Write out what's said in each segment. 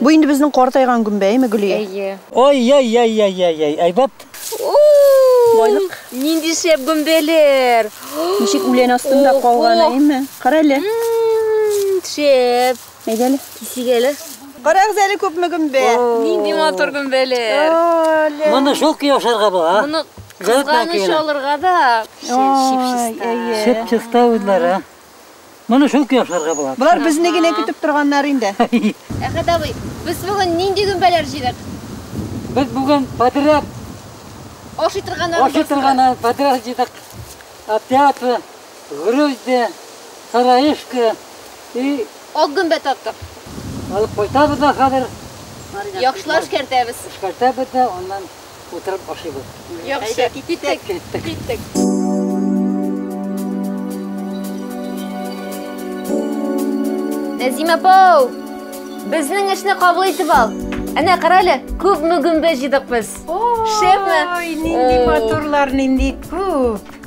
Бу инде безнең картайган гөмбәеме, Гөлия? Әйе. Ай-яй-яй-яй-яй-яй, әйбәт! Байлык. Нинди шәп гөмбәләр! Ничек үлән астында калган, әйеме? Кара әле. Шәп. Әйдә әле. Кисик әле. Карагыз әле, күпме гөмбә! Нинди матур гөмбәләр! Моны шул көй ашарга була, а? Моны кызганыч алырга да шип-чиста. Шип-чиста үзләре. Моны шул көй ашарга була. Болар безне генә көтеп торганнар инде. Әхәт абый, без бүген нинди гөмбәләр җыйдык? Без бүген подряд ашый торганнар. Ашый торганнар подряд җыйдык. Опята, груздя, сараишка и ак гөмбә тарттык. Алып кайтабыз да хәзер. Яхшылап эшкәртәбез. Эшкәртәбез дә аннан утырып ашыйбыз. Яхшы, киттек. Киттек. Киттек. Нәзимә апау! Безнең эшне кабул итеп ал. Әнә кара әле, күп мөгембе җыйдык без. Шәпме? Ой, нинди матурлар, нинди күп.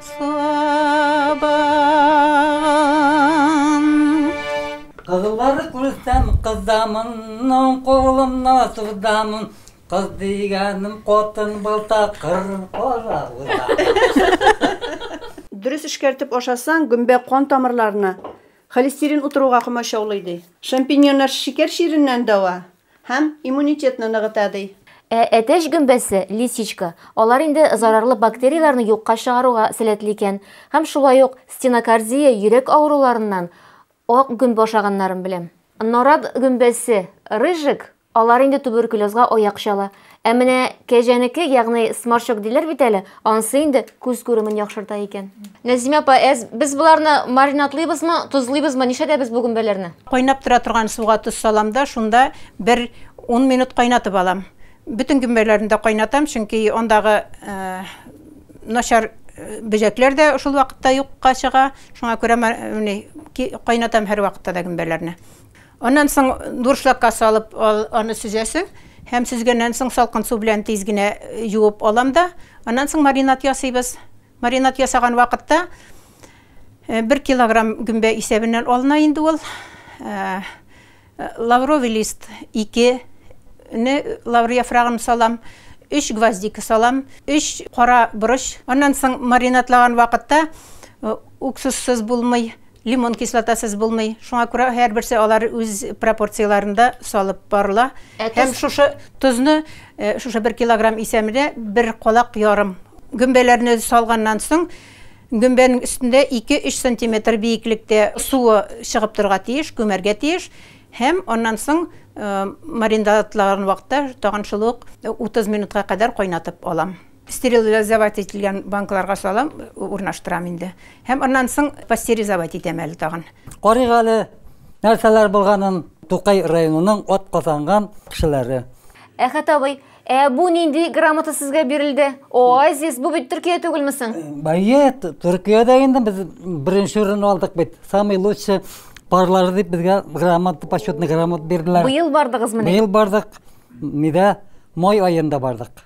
Сабагын. Кызлар күрсәм кызамын, Ның кулына сузамын, Кыз дигәнем катын булса, Кыр кара узамын. Дөрес эшкәртеп ашасаң, гөмбә кан тамырларына холестерин утыруга комачаулый, ди. Шампиньоннар шикәр чиреннән дәва. Һәм иммунитетны ныгыта, ди. Ә әтәч гөмбәсе, лисичка, алар инде зарарлы бактерияләрне юкка чыгаруга сәләтле икән. Һәм шулай ук стенокардия, йөрәк авыруларыннан ак гөмбә ашаганнарын беләм. Нарат гөмбәсе, рыжик, алар инде туберкулезга аяк чала. Ә менә кәҗәнеке, ягъни сморчок диләр бит әле, ансы инде күз күремен яхшырта икән. Нәзимә апа, әз, без боларны маринадлыйбызмы, тозлыйбызмы, нишләтәбез бу гөмбәләрне? Кайнап тора торган суга тоз салам да, шунда бер ун минут кайнатып алам. Бөтен гөмбәләрне дә кайнатам, чөнки андагы начар бөҗәкләр дә шул вакытта юкка чыга. Шуңа күрә кайнатам һәрвакытта да гөмбәләрне. Аннан соң дуршлагка салып аны сөзәсең һәм сөзгәннән соң салкын су белән тиз генә юып алам да, аннан соң маринад ясыйбыз. Маринад ясаган вакытта бер килограмм гөмбә исәбеннән алына инде ул. Лавровый лист 2 не лавр яфрагын салам, 3 гвоздика салам, 3 кара борыч. Аннан соң маринадлаган вакытта уксуссыз булмый, Лимон кислотасыз булмый. Шуңа күрә һәрберсе алар үз пропорцияләрендә салып барыла. Ә Һәм тоз? шушы тозны, э, шушы бер килограмм исәмедә бер калак ярым гөмбәләрне салганнан соң, гөмбәнең өстендә 2-3 сантиметр биеклектә суы чыгып торырга тиеш, күмәргә тиеш. Һәм аннан соң э, маринадлаган вакытта тагын шул ук 30 минутка кадәр кайнатып алам. Стерилизовать ителгән банкаларга салам, урнаштырам инде. Һәм аннан соң пастеризовать итәм әле тагын. Карыйк әле, нәрсәләр булганын, Тукай районының атказанган кешеләре. Әхәт абый, ә бу нинди грамота сезгә бирелде? Оазис, бу бит Төркия түгелме соң? Әйе, Төркиядә инде без беренче урын алдык бит. Самый лучший парлары дип безгә грамота, почетный грамота бирделәр. Быел бардыгызмыни? Быел бардык. Нидә, май аенда бардык.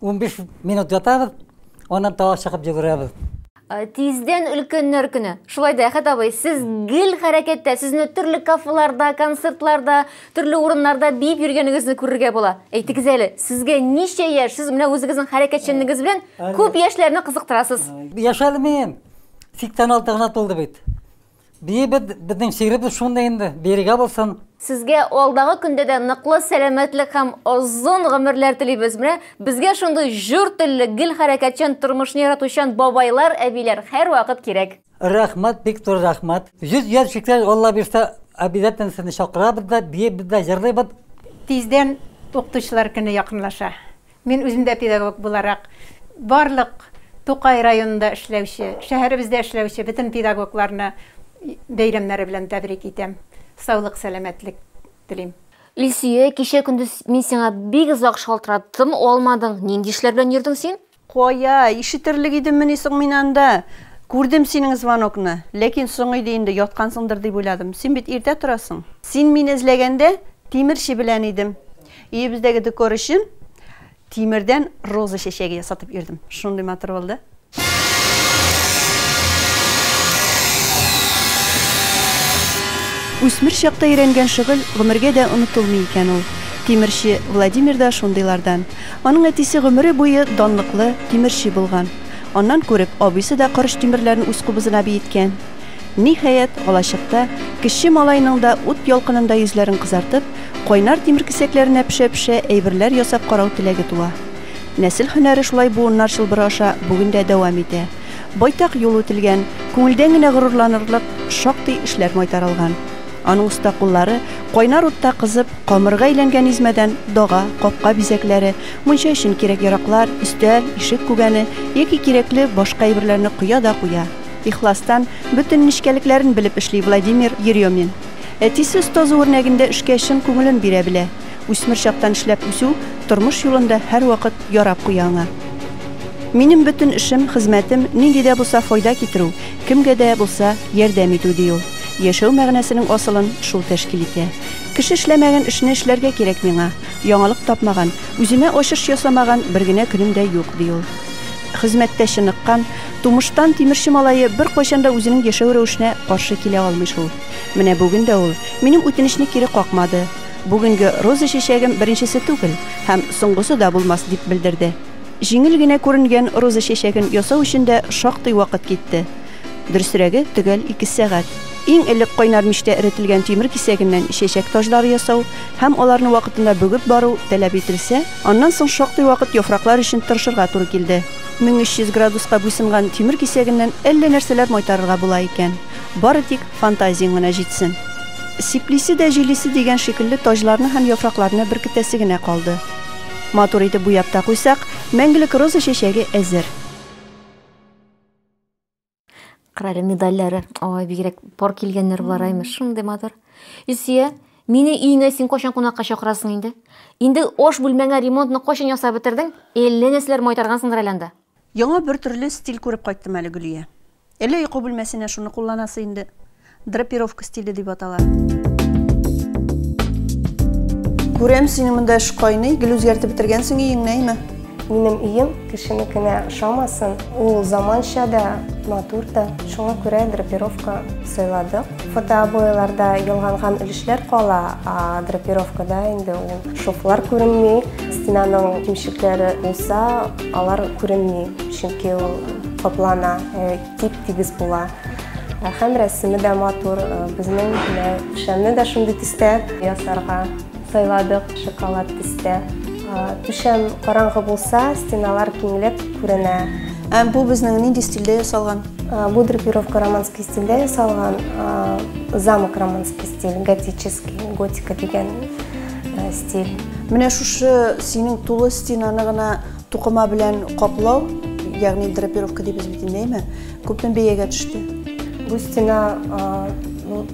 Унбиш минут ятабыз, аннан тагы чыгып йөгерәбез. Тиздән өлкәннәр көне. Шулай да, Әхәт абый, сез гел хәрәкәттә, сезне төрле кафеларда, концертларда, төрле урыннарда биеп йөргәнегезне күрергә була. Әйтегез әле, сезгә ничә яшь? Сез менә үзегезнең хәрәкәтчәнлегегез белән күп яшьләрне кызыктырасыз. Яшәлмим. 86 гына тулды бит. Биебез, безнең шигыребез шундый инде, бирегә булсын. Сезгә алдагы көндә дә ныклы сәламәтлек һәм озын гомерләр телибез. Менә безгә шундый җор телле, гел хәрәкәтчән, тормышны яратучан бабайлар, әбиләр һәрвакыт кирәк. Рәхмәт, бик зур рәхмәт. Йөз яшь җиткәч, Алла бирсә, обязательно сезне чакырабыз да, биебез дә, җырлыйбыз. Тиздән Укытучылар көне якынлаша. Мин үзем дә педагог буларак, барлык Тукай районында эшләүче, шәһәребездә эшләүче бөтен педагогларны бәйрәмнәре белән тәбрик итәм. Саулык, сәламәтлек телим. Илсөя, кичә-көндез мин сиңа бик озак шалтыраттым, алмадың. Нинди эшләр белән йөрдең син? Кая, ишетерлек идеммени соң мин анда? Күрдем синең звонокны, ләкин соң иде инде, яткансыңдыр дип уйладым. Син бит иртә торасың. Син мине эзләгәндә, тимерче белән идем. Өебездәге декор өчен тимердән роза чәчәге ясатып йөрдем. Шундый матур булды. Үсмер чакта өйрәнгән шөгыль гомергә дә онытылмый икән ул. Тимерче Владимир да шундыйлардан. Аның әтисе гомере буе данлыклы тимерче булган. Аннан күреп, абыйсы да корыч тимерләрен үз кубызына биеткән. Ниһаять, алачыкта, кече малайның да ут ялкынында йөзләрен кызартып, кайнар тимер кисәкләренә пешә-пешә әйберләр ясап карау теләге туа. Нәсел һөнәре шулай буыннар чылбыры аша бүген дә дәвам итә. Байтак юл үтелгән, күңелдән генә горурланырлык шактый эшләр майтарылган. Аның оста куллары, кайнар утта кызып, камырга әйләнгән измәдән дога, капка бизәкләре, мунча өчен кирәк-яраклар, өстәл, ишек күгәне яки кирәкле башка әйберләрне коя да куя. Ихластан, бөтен нечкәлекләрен белеп эшли Владимир Еремин. Әтисе остазы үрнәгендә эшкә чын күңелен бирә белә. Үсмер чактан эшләп үсү, тормыш юлында һәрвакыт ярап куя аңа. Минем бөтен эшем, хезмәтем, нинди дә булса файда китерү, кемгә дә булса ярдәм итү, ди ул. Яшәү мәгънәсенең асылын шул тәшкил итә. Кеше эшләмәгән эшне эшләргә кирәк миңа. Яңалык тапмаган, үземә ачыш ясамаган бер генә көнем дә юк, ди ул. хезмәттә чыныккан, тумыштан тимерче малае беркайчан да үзенең яшәү рәвешенә каршы килә алмый шул. Менә бүген дә ул минем үтенечне кире какмады. Бүгенге роза чәчәгем беренчесе түгел һәм соңгысы да булмас, дип белдерде. Җиңел генә күренгән роза чәчәген ясау өчен дә шактый вакыт китте. Дөресрәге, төгәл ике сәгать. Иң элек кайнар мичтә эретелгән тимер кисәгеннән чәчәк таҗлары ясау һәм аларны вакытында бөгеп бару таләп ителсә, аннан соң шактый вакыт яфраклар өчен тырышырга туры килде. 1300 градуска буйсынган тимер кисәгеннән әллә нәрсәләр майтарырга була икән. Бары тик фантазияң генә җитсен. Сиплисе дә җилисе дигән шикелле таҗларны һәм яфракларны беркетәсе генә калды. Матур итеп буяп та куйсак, мәңгелек роза чәчәге әзер. Карале медальләре. Ой, бигрәк пар килгән нервлар аймы, шундый матур. Илсөя, мине өеңә син кайчан кунакка чакырасың инде? Инде аш бүлмәңә ремонтны кайчан ясап бетердең? Әллә нәрсәләр майтаргансыңдыр әле анда. Яңа бер төрле стиль күреп кайттым әле, Гөлия. Әллә йокы бүлмәсенә шуны кулланасы инде? Драпировка стиле дип атала. Күрәм, синең монда эш кайный, гел үзгәртеп бетергәнсең өеңне, әйме? Минем өем кешенекенә ошамасын, ул заманча да, матур да. Шуңа күрә драпировка сайладык. Фотообойларда ялганган өлешләр кала, а драпировкада инде ул шовлар күренми, стенаның кимчекләре булса, алар күренми, чөнки ул каплана. Э, Тип-тигез була. Ә Һәм рәсеме дә матур. Э, Безнең түшәмне дә шундый төстә ясарга сайладык, шоколад төстә. Э, Түшәм караңгы булса, стеналар киңләп күренә. Ә бу безнең нинди стильдә ясалган? Э, Бу драпировка романский стильдә ясалган. Э, Замок романский стиль, готический, готика дигән э, стиль. Менә шушы синең тулы стенаны гына Тукыма белән каплау, ягъни драпировка дибез бит инде, әйме? Күпме бәягә төште? Бу стена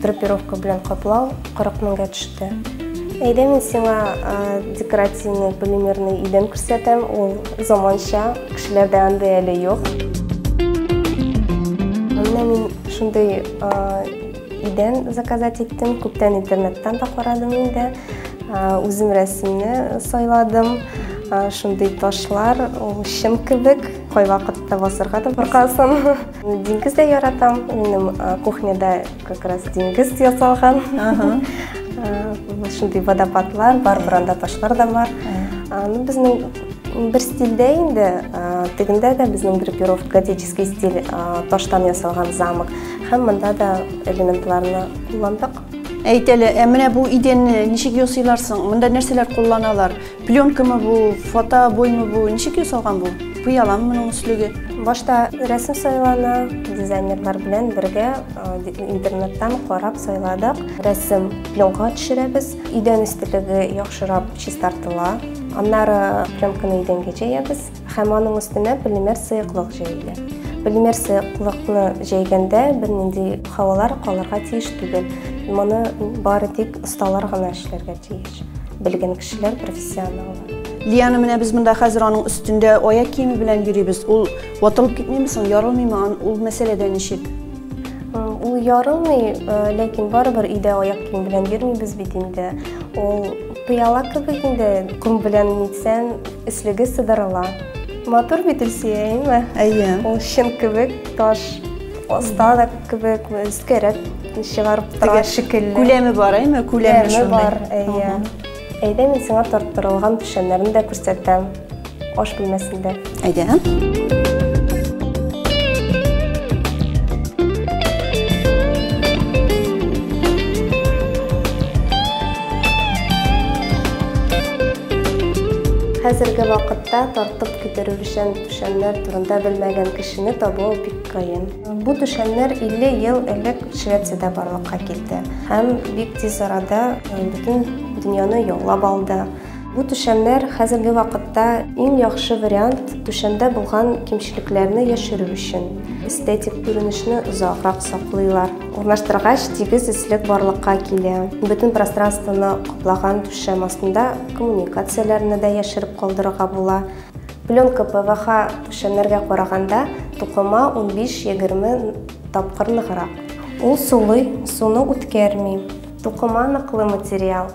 драпировка белән каплау 40 меңгә төште. Әйдә мин сиңа декоративный полимерный идән күрсәтәм, ул заманча, кешеләрдә андый әле юк. Менә мин шундый Идән заказать иттем, күптән интернеттан да карадым инде. Үзем рәсемне сайладым. Шундый ташлар, ул чын кебек, кайвакытта басырга да куркасың. Диңгез дә яратам. Минем кухняда как раз диңгез ясалган. Шундый водопадлар бар, буранда ташлар да бар. Безнең Бер стильдә инде, тегендә дә безнең драпировка готический стиль, таштан ясалган замок. Һәм монда да элементларны кулландык. Әйт әле, ә менә бу идәнне ничек ясыйлар соң? Монда нәрсәләр кулланалар? Пленкамы бу, фотобоймы бу? Ничек ясалган бу? Пыялам моның өслеге. Башта рәсем сайлана, дизайнерлар белән бергә интернеттан карап сайладык. Рәсем пленкага төшерәбез. Идән өстелеге яхшырап Чистартыла. Аннары пленканы идәнгә җәябез һәм аның өстенә полимер сыеклык җәелә. Полимер сыеклыкны җәйгәндә бернинди һавалар калырга тиеш түгел. Моны бары тик осталар гына эшләргә тиеш. Белгән кешеләр, профессионаллар. Лияна менә без монда хәзер аның өстендә аяк киеме белән йөрибез. Ул ватылып китмиме соң, ярылмыймы? Ул мәсьәләдә ничек? Ул ярылмый, ләкин барыбер өйдә аяк киеме белән йөрмибез бит инде. Ул Пыяла кебек инде, ком белән нитсән, өслеге сыдырыла. Матур бит Илсөя, әйме? Әйе. Ул чын кебек, таш оста да кебек, өскәрәк чыгарып тора шикелле. Күләме бар, әйме? Күләме бар, әйе. Әйдә, мин сиңа тарттырылган печәннәрне дә күрсәтәм. Аш бүлмәсендә. Әйдә. Хәзерге вакытта тартып китерүчән түшәмнәр турында белмәгән кешене табу бик кыен. Бу түшәмнәр 50 ел элек Швециядә барлыкка килде һәм бик тиз арада бөтен дөньяны яулап алды. Бу түшәмнәр хәзерге вакытта иң яхшы вариант түшәмдә булган кимчелекләрне яшерү өчен. Эстетик күренешне озаграк саклыйлар. Урнаштыргач, тигез эслек барлыкка килә. Бөтен пространствоны каплаган түшәм астында коммуникацияләрне дә яшереп калдырырга була. Пленка ПВХ түшәмнәргә караганда тукыма 15-20 тапкыр ныграк. Ул сулый, суны үткәрми. Тукыма ныклы материал.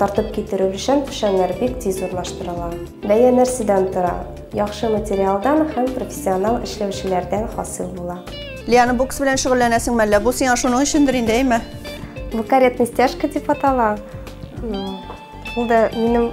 Тартып китерү өчен түшәмнәр бик тиз урнаштырыла. Бәя нәрсәдән тора? Яхшы материалдан һәм профессионал эшләүчеләрдән хасил була. Лиана, бокс белән шөгыльләнәсең мәллә? Бу сиңа шуның өчендер инде, әйме? Бу каретный стяжка дип атала. Ул да минем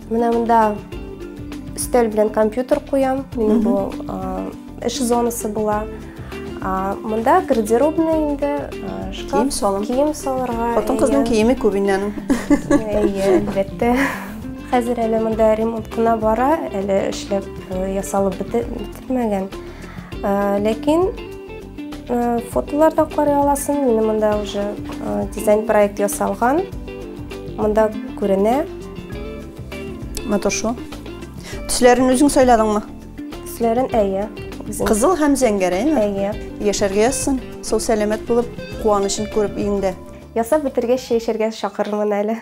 Менә монда өстәл белән компьютер куям. Минем бу эш зонасы була. Монда гардеробный инде, шкаф. Кием салым. Кием салырга. Хатын кызның киеме күп иннән. Әйе, әлбәттә. Хәзер әле монда ремонт кына бара, әле эшләп ясалып бетмәгән. Ләкин фотолардан карый аласың, минем монда уже дизайн проект ясалган. Монда күренә. Матур шул. Төсләрен үзең сайладыңмы? Төсләрен әйе. Кызыл һәм зәңгәрәйме? Әйе. Яшәргә язсын. Сау сәламәт булып, куанычын күреп өендә. Ясап бетергәч чәй чакырырмын әле.